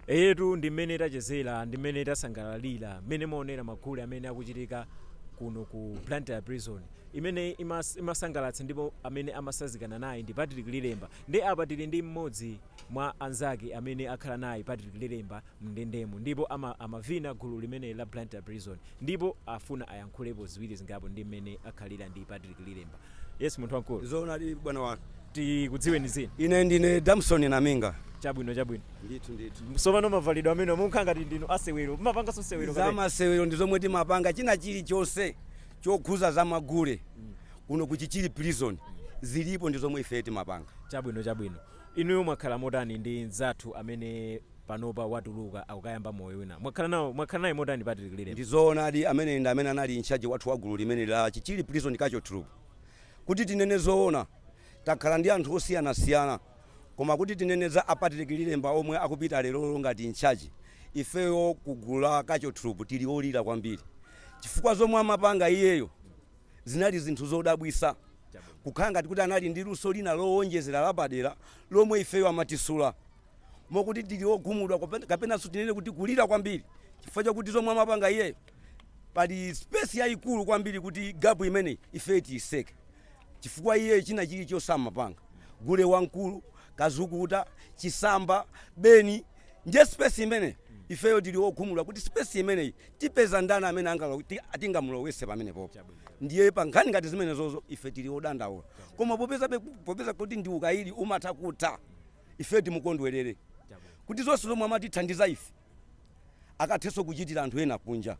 Eyetu ndi mmene tachezera ndi mmene tasangalalira mmene mwaonera magule amene akuchitika kuno ku Blantyre prison imene imasangalatsa ndipo amene amasazikana naye ndi Patrick Lilemba ndiye apa tili ndi mmodzi mwa anzake amene akhala naye Patrick Lilemba mndendemo ndipo amavina gulu limeneli la Blantyre prison Ndipo afuna ayankhulepo ziwiri zingapo ndi mmene akhalira ndi Patrick Lilemba. Yes, munthu wamkulu. Zoonadi bwana wathu. Tikudziweni dzina? Ine ndine Damson Naminga. Chabwino, chabwino. Ndithu, ndithu. Tsopano mavalidwe amenewa mukukhala ngati ndinu asewero. Mumapanganso sewero kapena? Zamasewero ndi zomwe timapanga. China chilichonse chokhuza za magule kuno ku Chichiri Prison zilipo ndi zomwe ifeyo timapanga. Chabwino, chabwino. Inuyo mwakhala motani ndi mzathu amene panopa watuluka akukayamba moyo wina. Mwakhala nawo mwakhala naye motani Patrick Lilemba? Ndizoonadi ameneyi ndi amene anali incharge wathu wa gulu limeneli la Chichiri Prison Culture Troupe. Kuti tinene zoona takhala ndi anthu osiyanasiyana koma kuti tinene za a Patrick Lilemba omwe akupita lerolero ngati incharge, ifeyo ku gulu la Culture Troupe tili olira kwambiri chifukwa zomwe amapanga iyeyo zinali zinthu zodabwitsa kukhala ngati kuti anali ndi luso lina lowonjezera lapadera lomwe ifeyo amatisula. mokuti tili wokhumudwa kopen- kapenanso tinene kuti kulira kwambiri chifukwa chakuti zomwe amapanga iyeyo pali space yayikulu kwambiri kuti gapu imeneyi ife tiyitseke chifukwa iye china chilichonse amapanga gule wamkulu kazukuta chisamba beni ndiye space imeneyi ifeyo tili wokhumudwa kuti space imeneyi tipeza ndani amene angalo- ti- tingamulowetse pamenepopo ndiye pa nkhani ngati zimenezozo ife tili odandaula koma popeza be- popeza kuti ndi ukayidi umatha kutha ifeyo timukondwerere kuti zonse zomwe amatithandiza ife akathenso kuchitira anthu ena kunja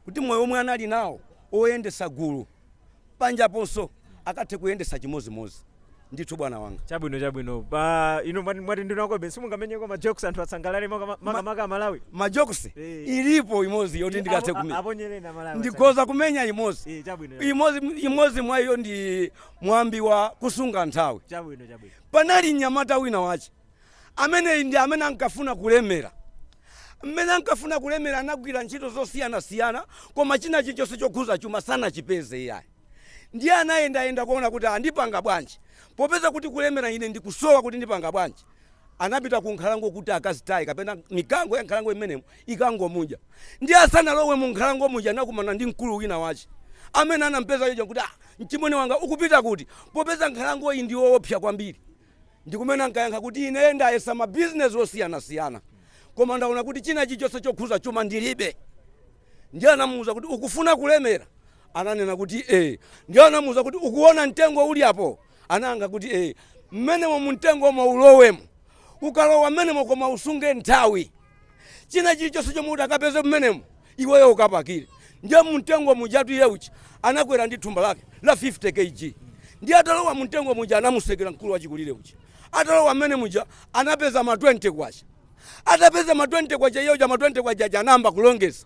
kuti moyo womwe anali nawo oyendesa gulu panjaponso akathe kuyendesa chimodzimodzi ndithu bwana wanga chabwino chabwino pa ino mwati mwati ndinakobe simungamenyeko ma jokes anthu asangalale maka- makamaka amalawi majokosi Eh. ilipo imodzi yoti ndikathe Apo- kumenya aponyereni amalawi ndikhoza kumenya imodzi Eh, chabwino imodzi imodzi mwa iyo ndi mwambi wa kusunga nthawi chabwino chabwino Panali mnyamata wina wache, ameneyi ndi amene ankafuna kulemera. M'mene ankafuna kulemera anagwira ntchito zosiyana siyana koma china chilichonse chokhuza chuma sanachipeze iyayi. Ndiye anayenda yenda kuona kuti aah ndipanga bwanji popeza kuti kulemera ine ndikusowa kuti ndipanga bwanji. Anapita ku nkhalango kuti akazitaye kapena mikango ya nkhalango imenemo ikangomudya. Ndiye asanalowe mu nkhalango muja anakumana ndi mkulu wina wache amene anampeza uja nkuti aah! Mchimwene wanga, ukupita kuti? Popeza nkhalangoyi ndi yoopsa kwambiri. Ndi kumene ankayankha kuti, Ine ndayesa mabizinesi osiyanasiyana, koma ndaona kuti china chilichonse chokhuza chuma ndilibe. Ndiye anamuuza kuti, Ukufuna kulemera? Ananena kuti, Ee. Ndiye anamuuza kuti, Ukuona mtengo uli apo? Anayankha kuti, Ee. Mmenemo mumtengomo ulowemo. Ukalowa mmenemo koma usunge nthawi. china chilichonse chomwe utakapeze mmenemo iweyo ukapakire ndiye mumtengo mujatu iye uchi anakwera ndi thumba lake la 50 kg ndiye atalowa mumtengo muja anamutsekera mkulu wachikulire uchi atalowa mmene muja anapeza ma 20 kwacha atapeza ma 20 kwacha iyeyo ma 20 kwacha aja anayamba kulongeza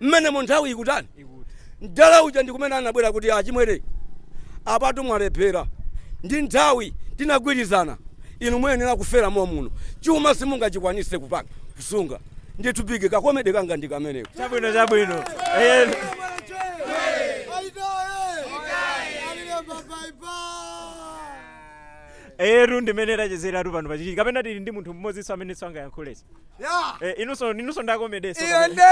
Mmenemo nthawi ikutani? Mdala uja ndi kumene anabwera kuti, Achimwene, apatu mwalephera. ndi nthawi tinagwirizana. Inu muyenera kufera momuno. Chuma simungachikwanise kupanga, kusunga. Ndithu big, ka comedy kanga ndi kameneko. Chabwino, chabwino. Eh, Eyetu ndimene tachezeratu pano pachiki. Kapena tili ndi munthu mmodzinso amenenso angayankhulenso. Yeah. Eh, inuso inuso ndi a komedeso. Iya nde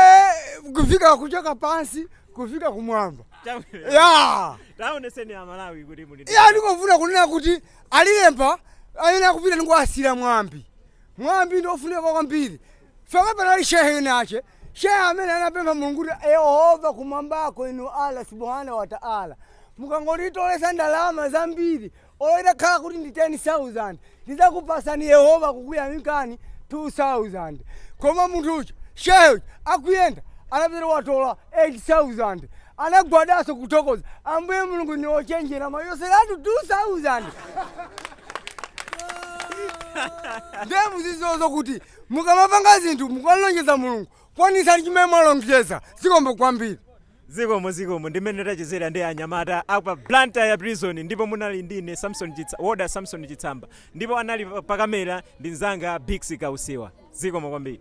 kufika kuchoka pansi kufika kumwamba. Chabwino. Yeah. Taoneseni a Malawi kuti muli. ndi- Iya ndikufuna kunena kuti alilemba ayenera kupita ndikuwasira mwambi. Mwambi ndi ofunika kwambiri. Faka panali shehe winawache. Shehe amene anapempha Mulungu kuti Yehova kumwambako inu Allah subhanahu wa ta'ala. Mukangonditolesa ndalama zambiri Olo itakhala kuti ndi 10,000 ndizakupasani yehova kukuyamikani 2000 koma munthu uja shehe uja akuyenda anapeza watola 8000 anagwadaso kuthokoza ambuye mulungu inu ochenjera mwachotseratu 2000 ndiye mu zizozo kuti mukamapanga zinthu mukamlonjeza mulungu kwanisani chimene mwalonjeza zikomo kwambiri Zikomo zikomo ndimene tachezera ndi anyamata apa Blantyre prison ndipo munali ndi ine Samson chitsa warder Samson chitsamba ndipo anali pa camera ndi mnzanga Bixy kausiwa zikomo kwambiri.